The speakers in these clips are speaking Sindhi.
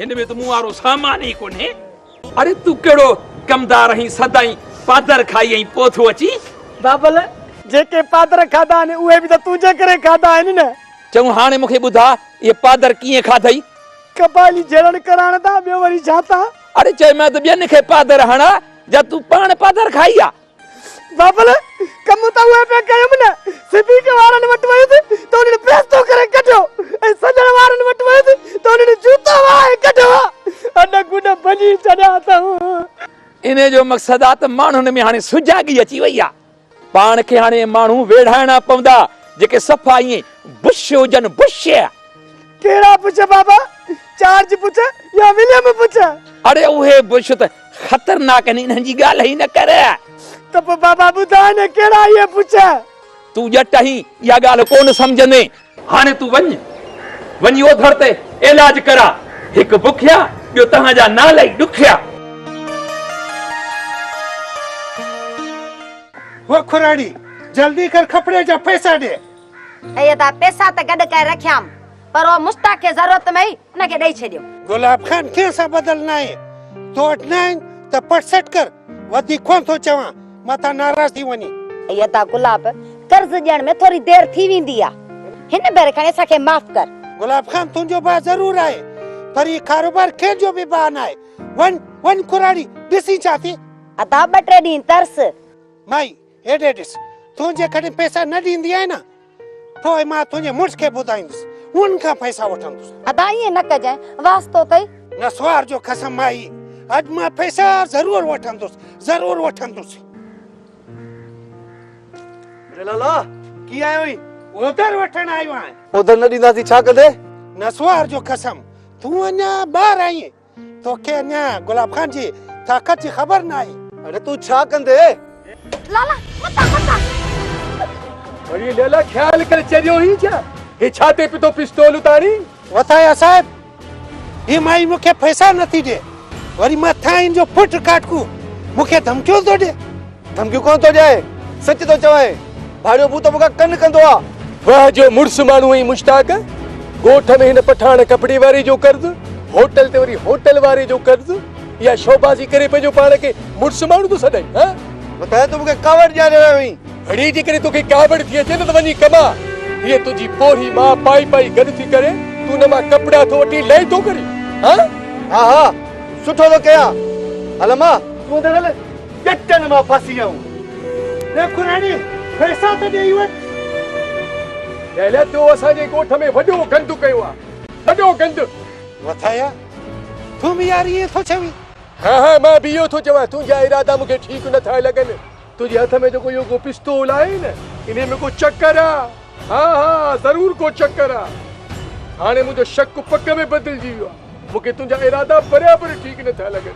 هن ۾ ته مون وارو سامان ئي ڪونهي. اڙي تون ڪهڙو ڪمدار آهين سدائين پادر کائي ۽ پوء ٿو اچين. بابل جيڪي پادر کاڌا آهن اهي به ته تنهنجي ڪري کاڌا آهن نه. چڱو هاڻي مون کي ٻڌاء اهي پادر ڪيئن کاڌئي. قبائلي جهيڙڻ ڪرائڻ تان ٻيو وري ڇا تان. اڙي چئي مان ته ٻين کي پادر هڻاء جا تون پاڻ پادر کائي آ. بابل، ڪم ته اهي پئي ڪيم نه، صديق وارن وٽ ويس ته انهن پريستو ڪري ڪڍيو ۽ سڄڻ وارن وٽ ويس ته انهن جوتا وهائي ڪڍيا ها ۽ گڏ ڀڄي ڇڏيا اٿم. انهيء جو مقصد آ ته ماڻهن ۾ هاڻي سجاڳي اچي وئي آ. پاڻ کي هاڻي ماڻهو ويڙهائڻا پوندا جيڪي صفا ائين بش هجن، بش! ڪهڙا بش بابا، جارج بش يا وليم بش؟ اڙي اهي بش ته خطرناڪ آهن انهن جي ڳالهه ئي نه ڪر. ته پوء بابا ٻڌاء نه ڪهڙا اهي پڇ. تون ڄٽ آهين اها ڳالهه ڪونه سمجهندين. هاڻي تون وڃ وڃي اوڌڙ تي علاج ڪراء. هڪ بکيا ٻيو توهان جا نالا ئي ڏکيا. هو کراڙي جلدي ڪر کپڙي جا پئسا ڏي. اي ادا پئسا ته گڏ ڪري رکيام. پر او مشتاق کي ضرورت ۾ ئي ان کي ڏئي ڇڏيو. گلاب خان ڪنهن سان ٻڌل ناهي، تو وٽ ناهن ته پٽ سيٽ ڪر، وڌيڪ ڪونه ٿو چوان، متان ناراض ٿي وڃين. اي ادا گلاب، قرض ڏيڻ ۾ ٿوري دير ٿي ويندي آ، هن ڀيري کڻي اسان کي معاف ڪر. گلاب خان تنهنجو ڀاء ضرور آهي، پر هي ڪاروبار ڪنهن جو به ڀاء ناهي، وڃ، وڃ ڪراڙي، ڏسين ڇا ٿئي. ادا ٻه ٽي ڏينهن ترس. مائي، هيڏي ڏس، تون جيڪڏهن پئسا نه ڏيندي آهين نه، پوء مان تنهنجي مڙس کي ٻڌائيندس، هن کان پئسا وٺندس. ادا ائين نه ڪجانء، واسطو اٿئي. نسوار جو قسم آهي، اڄ مان پئسا ضرور وٺندس، ضرور وٺندس. جلالا، ڪي آيو آهين؟ اوڌر وٺڻ آيو آهيان. اوڌر نه ڏينداسين، ڇا ڪندين؟ نسوار جو قسم، تون اڃا ٻار آهين. توکي اڃا گلاب خان جي طاقت جي خبر ناهي. اڙي تون ڇا ڪندي؟ لالا متان متان. اڙي ليلا خيال ڪري چريو هين ڇا؟ هي ڇا تي پتو پستول اتارين؟ وٿايا صاحب هي مائي مون کي پئسا نٿي ڏي وري مٿان هن جو پٽ ڪاٽڪو مون کي ڌمڪيون ٿو ڏي. ڌمڪيون ڪونه ٿو ڏيان سچ ٿو چوان ڀاڙيو ڀوت مون کان ڪن ڪندو آ. واه جو مڙس ماڻهو ۽ مشتاق ڳوٺ ۾ هن پٺاڻ ڪپڙي واري جو قرض هوٽل تي وري هوٽل واري جو قرض اها شوبازي ڪري پنهنجو پاڻ کي مڙس ماڻهو ٿو سڏائين ها ٻڌايو ته مون کي ڪاوڙ ڏياري رهيو آهين. ڀڙي جيڪڏهن توکي ڪاوڙ ٿي اچي نه ته وڃي ڪما هيء تنهنجي پوڙهي ماء پائي پائي گڏ ٿي ڪري تون هن مان ڪپڙا ٿو وٺين لئي ٿو ڪرين ها. ها ها سٺو ٿو ڪيان هل امان تون اندر هل. ڄٽن مان ڦاسي آئون. ڏيکو راڻي پئسا ته ڏيئي وٺ. دهليٰ تو اسان جي ڳوٺ ۾ وڏو گند ڪيو آ. وڏو گند. وٿايا تون به يار ائين ٿو چوين. ها ها مان به اهو ٿو چوان. تنهنجا ارادا مون کي ٺيڪ نه ٿا لڳن. تنهنجي هٿ ۾ جيڪو اهو ڪو پستول آهي نه انهي ۾ ڪو چڪر آ. ها ها ضرور ڪو چڪر آ. هاڻي منهنجو شڪ پڪ ۾ بدلجي ويو آ. مون کي تنهنجا ارادا برابر ٺيڪ نه ٿا لڳن.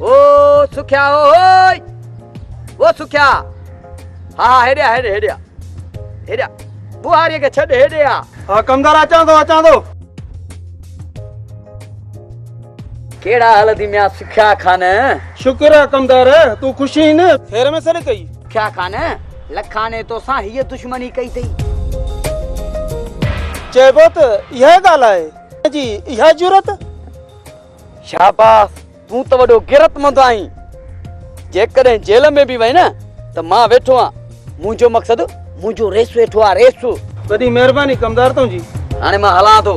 او سکيا او او او سکيا ها ها هيڏي هيڏي هيڏي هيڏي بوهاري کي ڇڏ هيڏي آ ها ڪمدار اچان ٿو اچان ٿو ڪهڙا حال اٿي ميان سکيا خان شڪر آ ڪمدار تو خوش هين خير ۾ سڏ ڪئي سکيا خان لکاني تو سان هي دشمني ڪئي تئي چئبو ته اها ڳالهه آهي جي اها جرت شاباس تون ته وڏو غيرتمند آهين جيڪڏهن جيل ۾ به وئين نه ته مان ويٺو آهيان منهنجو مقصد منهنجو ريس ويٺو آهي ريس وڏي مهرباني ڪمدار تنهنجي هاڻي مان هلان ٿو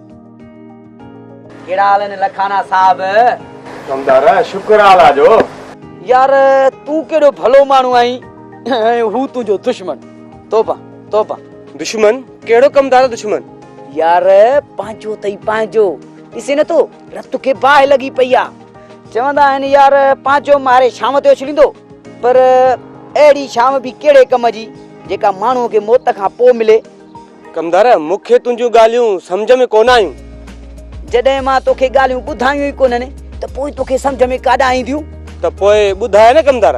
ڪهڙا حال آهن لکانا صاحب. ڪمدار شڪر آ الله جو. يار تون ڪيڏو ڀلو ماڻهو آهين ۽ هو تنهنجو دشمن توبه توبه. دشمن ڪهڙو ڪمدار دشمن. يار پنهنجو اٿئي پنهنجو ڏسين نٿو رت کي باهه لڳي پئي آ. چوندا آهن يار پنهنجو ماري شام تي اڇليندو پر اهڙي شام به ڪهڙي ڪم جي جيڪا ماڻهو کي موت کان پو ملي. ڪمدار مون کي تنهنجون ڳالهيون سمجهه ۾ ڪونه آيون. جڏهن مان توکي ڳالهيون ٻڌايون ئي ڪونهن ته پوء توکي سمجهه ۾ ڪاڏانهن اينديون؟ ته پوء ٻڌاء نه ڪمدار.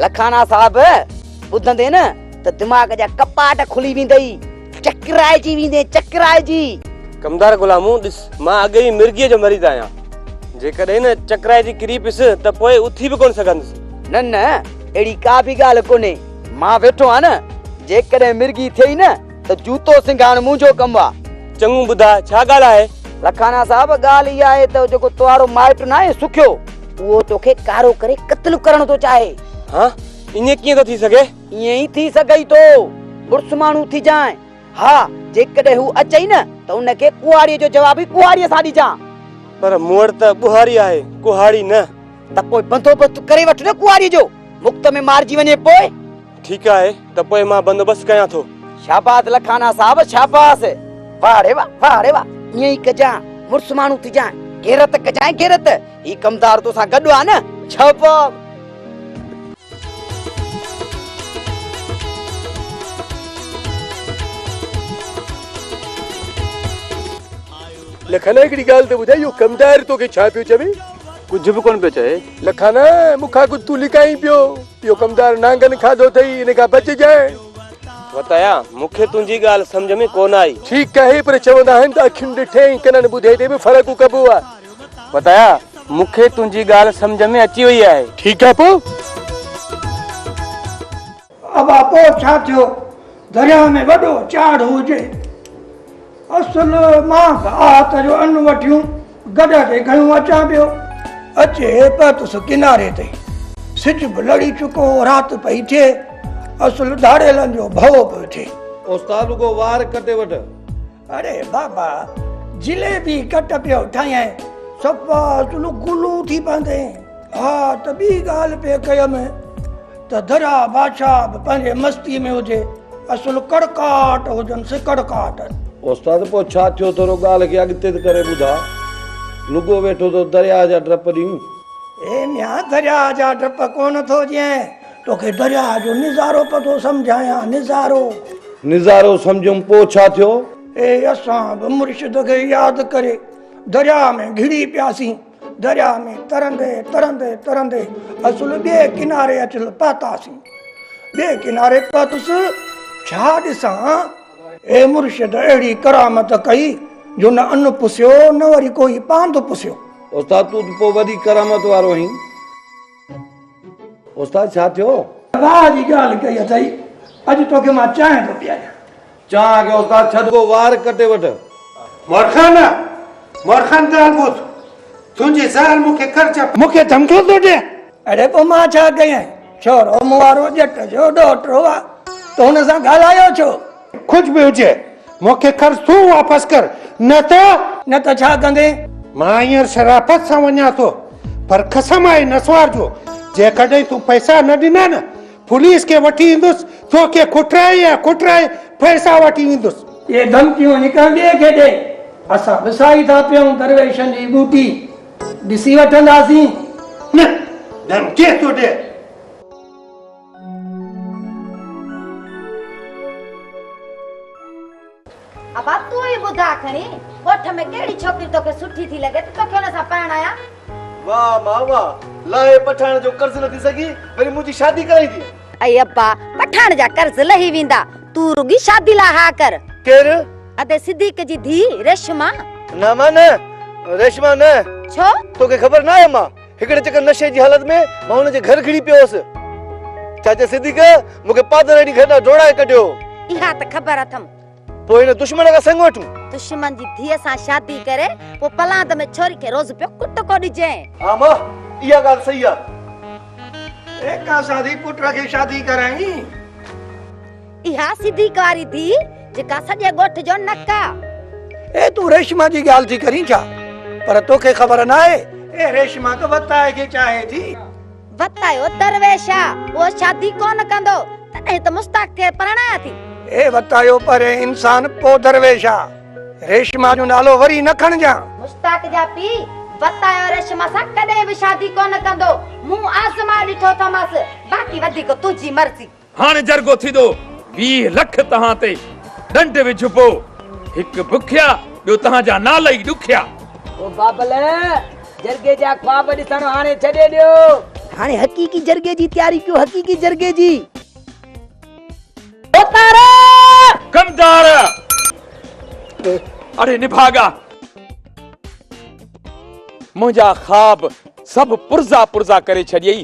لکاڻا صاحب ٻڌندين نه ته دماغ جا ڪپاٽ کلي ويندئي. چڪرائجي ويندين چڪرائجي. ڪمدار غلامو ڏس مان اڳ ئي مرگيء جو مريض آهيان. جيڪڏهن نه چڪرائجي ڪري پيس ته پوء اٿي به ڪونه سگهندس. نه نه اهڙي ڪا به ڳالهه ڪونهي. مان ويٺو آهيان نه، جيڪڏهن مرگي ٿئي نه ته جوتو سنگهاڻ منهنجو ڪم آ. چڱو ٻڌاء ڇا ڳالهه آهي؟ لکانا صاحب ڳالهه اها آهي ته جيڪو توهارو مائٽ ناهي سکيو. اهو توکي ڪارو ڪري قتل ڪرڻ ٿو چاهي. ها؟ ائين ڪيئن ٿو ٿي سگهي؟ ائين ئي ٿي سگهئي ٿو. مڙس ماڻهو ٿي جانء. ها، جيڪڏهن هو اچئي نه ته ان کي ڪهاڙي جو جواب ئي ڪهاڙي سان ڏجان. پر مون وٽ ته ٻهاري آهي، ڪهاڙي نه. ته پوء بندوبست ڪري وٺ نه ڪنواريء جو، مفت ۾ مارجي وڃي پوء. ٺيڪ آهي ته پوء مان بندوبست ڪيان ٿو. شاباس لکانا صاحب شاباس. واهه ري واهه، واهه ري واهه، ائين ئي ڪجانء، مڙس ماڻهو ٿجانء، غيرت ڪجانء غيرت، هي ڪمدار تو سان گڏ آ نه. شاباس. لکانا هڪڙي ڳالهه ته ٻڌاء اهو ڪمدار توکي ڇا پيو چوي؟ ڪجهه به ڪونه پيو چوي. لکانا مون کان ڪجهه تون لڪائين پيو. اهو ڪمدار نانگن کاڌو اٿئي ان کان بچجانء. وتايا مون کي تنهنجي ڳالهه سمجهه ۾ ڪونه آئي. ٺيڪ آهي پر چوندا آهن ته اکين ڏٺي ۽ ڪنن ٻڌي تي به فرق ڪبو آهي. وتايا مون کي تنهنجي ڳالهه سمجهه ۾ اچي وئي آهي. ٺيڪ آهي پوء. ابا پوء ڇا ٿيو؟ درياهه ۾ وڏو چاڙهه هجي. اصل مان ته آهت جو ان وٺيون گڏهه تي کنيو اچان پيو. اچي پهتس ڪناري تي. سج به لڙي چڪو هو، رات پئي ٿئي. اصل ڌاڙيلن جو ڀؤ پيو ٿئي. استاد رڳو وار ڪٽي وٺ. اڙي بابا جليبي ڪٽ پيو ٺاهين صفا تون گلو ٿي پوندي ها ته ٻي ڳالهه پي ڪيم ته درا بادشاهه به پنهنجي مستي ۾ هجي اصل ڪڙڪاٽ هجن سي ڪڙڪاٽ استاد پوء ڇا ٿيو ٿورو ڳالهه کي اڳتي ته ڪري ٻڌا لڳو ويٺو تو درياهه جا ڊپ ڏيون اي ميان درياهه جا ڊپ ڪونه ٿو ڏين توکي درياء جو نظارو پتو سمجهايان نظارو. نظارو سمجهيم پوء ڇا ٿيو؟ اي اسان به مرشد کي ياد ڪري درياء ۾ گهڙي پياسين. درياء ۾ ترندي ترندي ترندي اصل ٻئي ڪناري اچ پهتاسين. ٻئي ڪناري پهتس ڇا ڏسان؟ اي مرشد اهڙي ڪرامت ڪئي جو نه ان پسيو نه وري ڪوئي پاند پسيو. استاد تون ته پوء وڏي ڪرامت وارو آهين. استاد ڇا ٿيو؟ واهه جي ڳالهه ڪئي اٿئي، اڄ توکي مان چانهه ٿو پياريان. چانهه کي استاد ڇڏ ڪو وار ڪٽي وٺ. مورخان! مورخان ڳالهه ٻڌ. تنهنجي زهر مون کي ڪر چپ. مون کي ڌمڪيون ٿو ڏين؟ اڙي پوء مان ڇا ڪيائين؟ ڇورو مون وارو ڄٽ جو ڏوهٽو آ، تو هن سان ڳالهايو ڇو؟ ڪجهه به هجي، مون کي قرض تون واپس ڪر، نه ته. نه ته ڇا ڪندين؟ مان هينئر شرافت سان وڃان ٿو، پر قسم آهي نسوار جو، جيڪڏهن تون پئسا نه ڏنا نه، پوليس کي وٺي ايندس، تو کي ڪٽرائي ۽ ڪٽرائي پئسا وٺي ويندس. اهي ڌمڪيون هڪ ٻئي کي ڏئي، اسان ڏسائي ٿا پيون، درويشن جي ٻوٽي ڏسي وٺنداسين. نه، ڌمڪي ٿو ڏي. ابا تون ئي ٻڌاء کڻي ڳوٺ ۾ ڪهڙي ڇوڪري توکي سٺي ٿي لڳي ته توکي ان سان پرڻايان. واهه ماء واهه، لاهي پٺاڻ جو قرض نه ٿي سگهي، وري منهنجي شادي ڪرائيندين. اي ابا، پٺاڻ جا قرض لهي ويندا، تون رڳي شادي لاء ها ڪر. ڪير؟ ادي صديق جي ڌيء ريشما. نه ماء نه، ريشما نه. ڇو؟ توکي خبر ناهي ماء. هڪڙي چڪر نشي جي حالت ۾ مان هن جي گهر گهڙي پيو هوس. چاچي صديق مون کي پادرائي ڏينهن گهر ڏانهن ڊوڙائي ڪڍيو هو. اها ته خبر اٿم. پوء هن دشمن کان سڱ وٺون. دشمن جي ڌيء سان شادي ڪري پوء پلاند ۾ ڇوري کي روز پيو ڪٽڪو ڏجين. ها ماء اها ڳالهه صحيح آهي. ايڪا سان ريپوٽر کي شادي ڪرائين. اها سڌي ڪاري ڌي جيڪا سڄي ڳوٺ جو نڪ آ. اي تون ريشما جي ڳالهه ٿي ڪرين ڇا؟ پر توکي خبر ناهي اي ريشما ته وتاء کي چاهي ٿي. وتاء جو درويش آ اهو شادي ڪونه ڪندو تڏهن ته مشتاق کي پرڻايا ٿي. اي وتاء جو پرين انسان پوء درويش آ ريشما جو نالو وري نه کڻجان. مشتاق جا پيء وتاء جو ريشما سان ڪڏهن به شادي ڪونه ڪندو مون آزمائي ڏٺو اٿامس باقي وڌيڪ تنهنجي مرضي. هاڻي جرڳو ٿيندو ويهه لک توهان تي ڏنڊ وجهبو هڪ بکيا ٻيو توهان جا نالا ئي ڏکيا. او بابل جرڳي جا خواب ڏسڻ هاڻي ڇڏي ڏيو. هاڻي حقيقي جرڳي جي تياري ڪيو حقيقي جرڳي جي. اوتارا! ڪمدار! اڙي نڀاڳا! منهنجا خواب سڀ پرزا پرزا ڪري ڇڏيئي.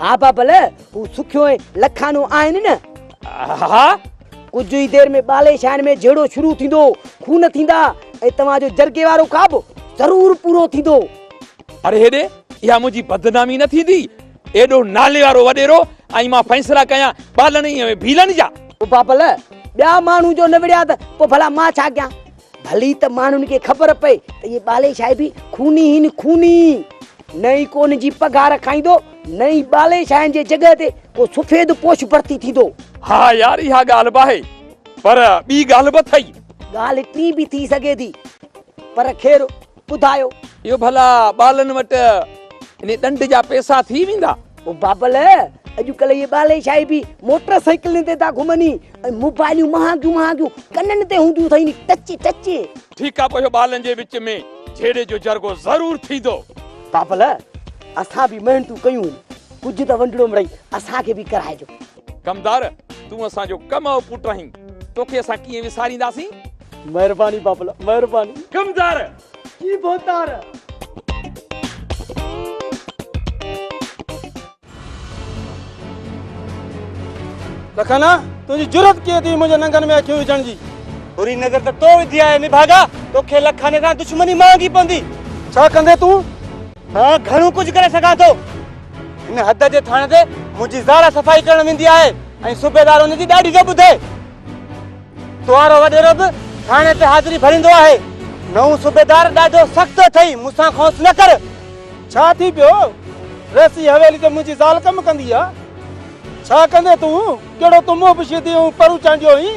ها بابل، هو سکيو ۽ لکانو آهن نه؟ ها، ڪجهه ئي دير ۾ ٻالي شاهن ۾ جهيڙو شروع ٿيندو، خون ٿيندا ۽ توهان جو جرڳي وارو خواب ضرور پورو ٿيندو. اڙي هيڏي، اها منهنجي بدنامي نه ٿيندي؟ ايڏو ناليوارو وڏيرو ۽ مان فيصلا ڪيان ٻالن ۽ ڀيلن جا. بابل، ٻيا ماڻهو جو نه وڙهيا ته پوء ڀلا مان ڇا ڪيان؟ ڀلي ته ماڻهن کي خبر پئي ته هي ٻالي شاهي به خوني هين خوني نه ئي ڪون جي پگهار کائيندو نه ئي ٻالي شاهين جي جڳهه تي ڪو سفيد پوش ڀرتي ٿيندو ها يار اها ڳالهه به آهي پر ٻي ڳالهه به اٿئي. ڳالهه ٽين به ٿي سگهي ٿي پر خير. ٻڌايو. اهو ڀلا ٻالن وٽ انهي ڏنڊ جا پيسا ٿي ويندا؟ او بابل، اڄڪلهه اهي ٻالي شاهي به موٽر سائيڪلين تي ٿا گهمن ۽ موبائليون مهانگيون مهانگيون ڪنن تي هونديون اٿئين ٽچي ٽچي. ٺيڪ آ پوء اهو ٻالن جي وچ ۾ جهيڙي جو جرڳو ضرور ٿيندو. بابل، اسان به محنتون ڪيون هن، ڪجهه ته ونڊڙوم رهي اسان کي به ڪرائجو. ڪمدار تون اسان جو ڪم او پٽ آهين توکي اسان ڪيئن وسارينداسين. مهرباني بابلا مهرباني. ڪمدار جي ڀوتار. لکانا تنهنجي جرئت ڪيئن ٿي منهنجي ننگن ۾ اکيون وجهڻ جي. بري نظر ته تو وڌي آهي نڀاڳا توکي لکاني سان دشمني مهانگي پوندي. ڇا ڪندين تون؟ آء گهڻو ڪجهه ڪري سگهان ٿو. هن حد جي ٿاڻي تي منهنجي زال صفائي ڪرڻ ويندي آهي ۽ صوبيدار ان جي ڏاڍي نه ٻڌي. توهارو وڏيرو به ٿاڻي تي حاضري ڀريندو آهي. نئون صوبيدار ڏاڍو سخت اٿئي، مون سان کونس نه ڪر. ڇا ٿي پيو؟ رئيسي حويلي تي منهنجي زال ڪم ڪندي آهي. ڇا ڪندين تون؟ ڪهڙو تون منهن پوشيدي ۽ پرو چانڊيو هئين؟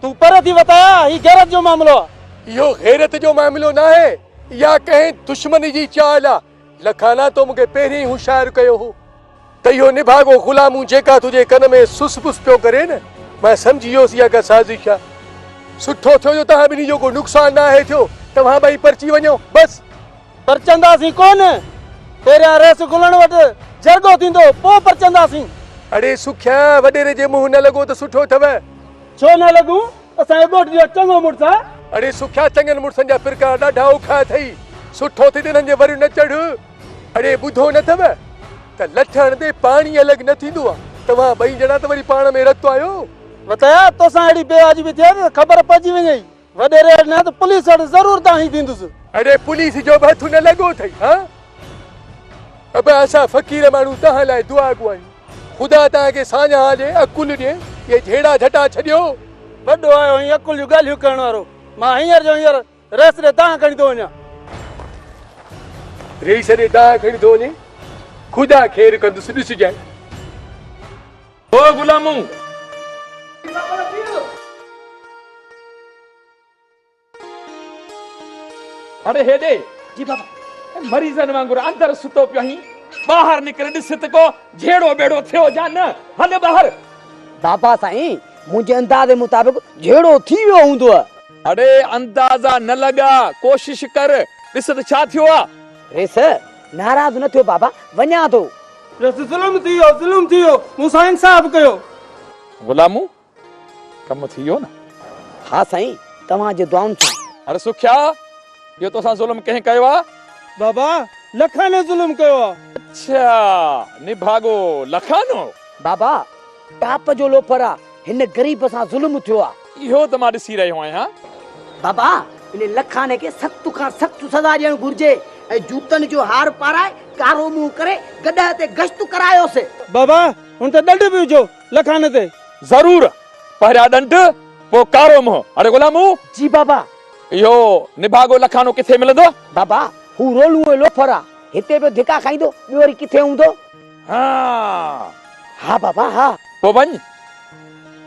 تون پري ٿي وتايا، هي غيرت جو معاملو آ. اهو غيرت جو معاملو ناهي، اها ڪنهن دشمن جي چال آ. لکانا تو مون کي پهرين هوشيار ڪيو هو، ته اهو نڀاڳو غلامون جيڪا تنهنجي ڪن ۾ سس پس پيو ڪري نه، مان سمجهي ويس اها ڪا سازش آ. سٺو ٿيو جو توهان ٻنهي جو ڪو نقصان ناهي ٿيو، توهان ٻئي پرچي وڃو، بس! پرچنداسين ڪونه، پهريان ريس گلڻ وٽ جرڳو ٿيندو، پوء پرچنداسين. اڙي سکيا، وڏيري جي منهن نه لڳو ته سٺو اٿئو. ڇو نه لڳون اسان جي ڳوٺ جو چڱو مڙس آ. اڙي سکيا چڱن مڙسن جا پرڪار ڏاڍا اوکا اٿئي سٺو ٿي ته انهن جي وريون نه چڙهه. اڙي ٻڌو نه اٿئو ته لٺ هڻندي پاڻي الڳ نه ٿيندو آ توهان ٻئي ڄڻا ته وري پاڻ ۾ رتو آهيو. وتايا توسان اهڙي بي واجبي ٿئي ته خبر پئجي وڃئي. وڏيري اڙ نه ته پوليس اڙ ضرور دانهين ويندس. اڙي پوليس جو به هٿ نه لڳو اٿئي ها. ابا اسان فقير ماڻهو توهان لاء دعا گو آهيون خدا توهان کي ساڃاهه ڏي عقل ڏي اهي جهيڙا جهٽا ڇڏيو. وڏو آيو آهين عقل جون ڳالهيون ڪرڻ وارو مان هينئر جو هينئر رئيس ڏي دانهن کڻي ٿو وڃان. رئيس ڏي دانهن کڻي ٿو وڃين خدا خير ڪندس ڏسجانء. او غلامو! هاڻي هيڏي! جي بابا! مريضن وانگر اندر ستو پيو آهين، ٻاهر نڪر ڏس ته ڪو جهيڙو ٻيڙو ٿيو يا نه، هل ٻاهر! بابا سائين! منهنجي اندازي مطابق جهيڙو ٿي ويو هوندوء. اڙي اندازا نه لڳاء، ڪوشش ڪر، ڏس ته ڇا ٿيو آهي؟ ريس! ناراض نه ٿيو بابا، وڃان ٿو. رس ظلم ٿيو ظلم ٿيو مون سان انصاف ڪيو. غلامون ڪم ٿي ويو نه. ها سائين توهان جي دعائن سان. هر سکيا ٻيو توسان ظلم ڪنهن ڪيو آ. بابا لکاني ظلم ڪيو آ. اڇا نڀاڳو لکانو. بابا ٽاپ جو لوفر آ. هن غريب سان ظلم ٿيو آ. اهو ته مان ڏسي رهيو آهيان. بابا ان لکاني کي سخت کان سخت سزا ڏيڻ گهرجي ۽ جوتن جو هار پارائي ڪارو منهن ڪري گڏهه تي گشت ڪرايوس. بابا هن تي ڏنڊ به وجهو لکاني تي. ضرور پهريان ڏنڊ پوء ڪارو منهن. اڙي غلامو! جي بابا. اهو نڀاڳو لکانو ڪٿي ملندو؟ بابا هو رولوئي لوفر آ. هتي پيو ڌڪا کائيندو ٻيو وري ڪٿي هوندو. ها ها بابا ها. پوء وڃ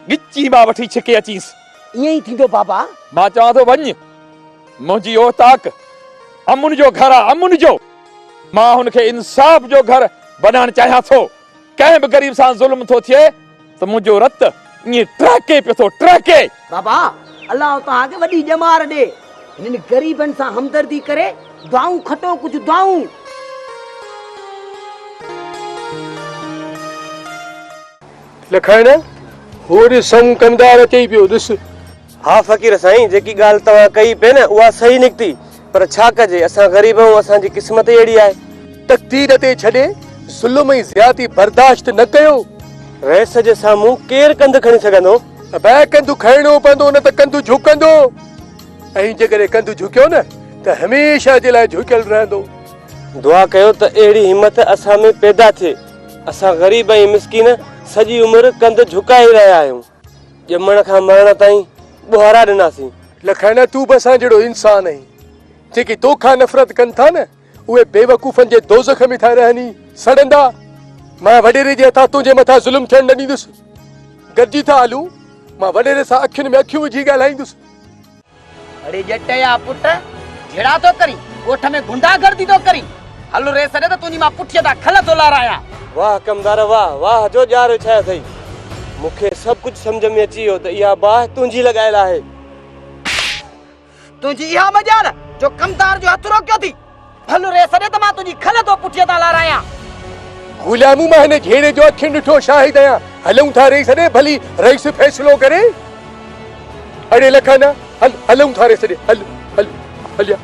ڳچي مان وٺي ڇڪي اچينس. ائين ئي ٿيندو بابا. مان چوان ٿو وڃ منهنجي اوطاق امن جو گهر آ امن جو. مان هن کي انصاف جو گهر بنائڻ چاهيان ٿو. ڪنهن به غريب سان ظلم ٿو ٿئي. ته منهنجو رت ائين ٽهڪي پيو ٿو ٽهڪي. بابا الله توهان کي وڏي ڄمار ڏي هنن غريبن سان همدردي ڪري دعائون کٽو ڪجهه دعائون. لکائڻ هو ڏس سمون ڪمدار اچي ئي پيو ڏس. ها فقير سائين جيڪي ڳالهه توهان ڪئي پئي نه اها صحيح نڪتي پر ڇا ڪجي اسان غريب آهيون اسان جي قسمت ئي اهڙي آهي. تقدير تي ڇڏي ظلم ۽ زيادتي برداشت نه ڪيو. رئيس جي سامهون ڪير ڪنڌ کڻي سگهندو. ابا ڪنڌ کڻڻو پوندو نه ته ڪنڌ جهڪندو ۽ جيڪڏهن ڪنڌ جهڪيو نه ته هميشه جي لاء جهڪيل رهندو. دعا ڪيو ته اهڙي همٿ اسان ۾ پيدا ٿئي اسان غريب ۽ مسڪين سڄي عمر ڪنڌ جهڪائي رهيا آهيون. ڄمڻ کان مرڻ تائين ٻوهارا ڏناسين. لکائنا تون به اسان جهڙو انسان آهين. جيڪي تو کان نفرت ڪن ٿا نه اهي بيوقوفن جي دوزخ ۾ ٿا رهن ئي سڙندا. مان وڏيري جي هٿان تنهنجي مٿان ظلم ٿيڻ نه ڏيندس. گڏجي ٿا هلون. مان وڏيري سان اکين ۾ اکيون وجهي ڳالهائيندس. اڙي ڄٽ جا پٽ جھيڙا ٿو ڪرين ڳوٺ ۾ غنڊا گردي ٿو ڪرين ھل ريس ڏي ته تنھنجي مان پٺيء تان کل ٿو لارايان. واھ حڪمدار واھ واھ جو ڄار وڇايو اٿئي مون کي سڀ ڪجھ سمجھ ۾ اچي ويو ته اھا باھ تنھنجي لڳايل آھي. تنھنجي اھا مجال جو ڪمدار جو ھٿ روڪيو اٿي. ڀل ري سڏ ته مان تنهنجي کل ٿو پٺيء تان لارايان. غلام مان هن جهيڙي جو اکين ڏٺو شاهد آهيان. هلون ٿا رئيس ڏي ڀلي رئيس فيصلو ڪري. اڙي لکاندا هل هلون ٿا رئيس ڏي هل هل هليا.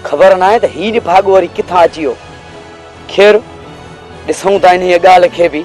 خبر ناهي ته هي نڀاڳو وري ڪٿان اچي ويو. خير ڏسون ٿا انهيء ڳالهه کي به.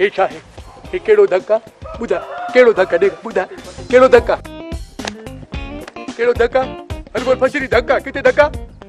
هي ڇا آهي هي ڪهڙو ڌڪ آ ٻڌاء ڪهڙو ڌڪ ڏي ٻڌاء ڪهڙو ڌڪ آ ڪهڙو ڌڪ آ هر ڀر ڀڄري ڌڪ آ ڪٿي ڌڪ آ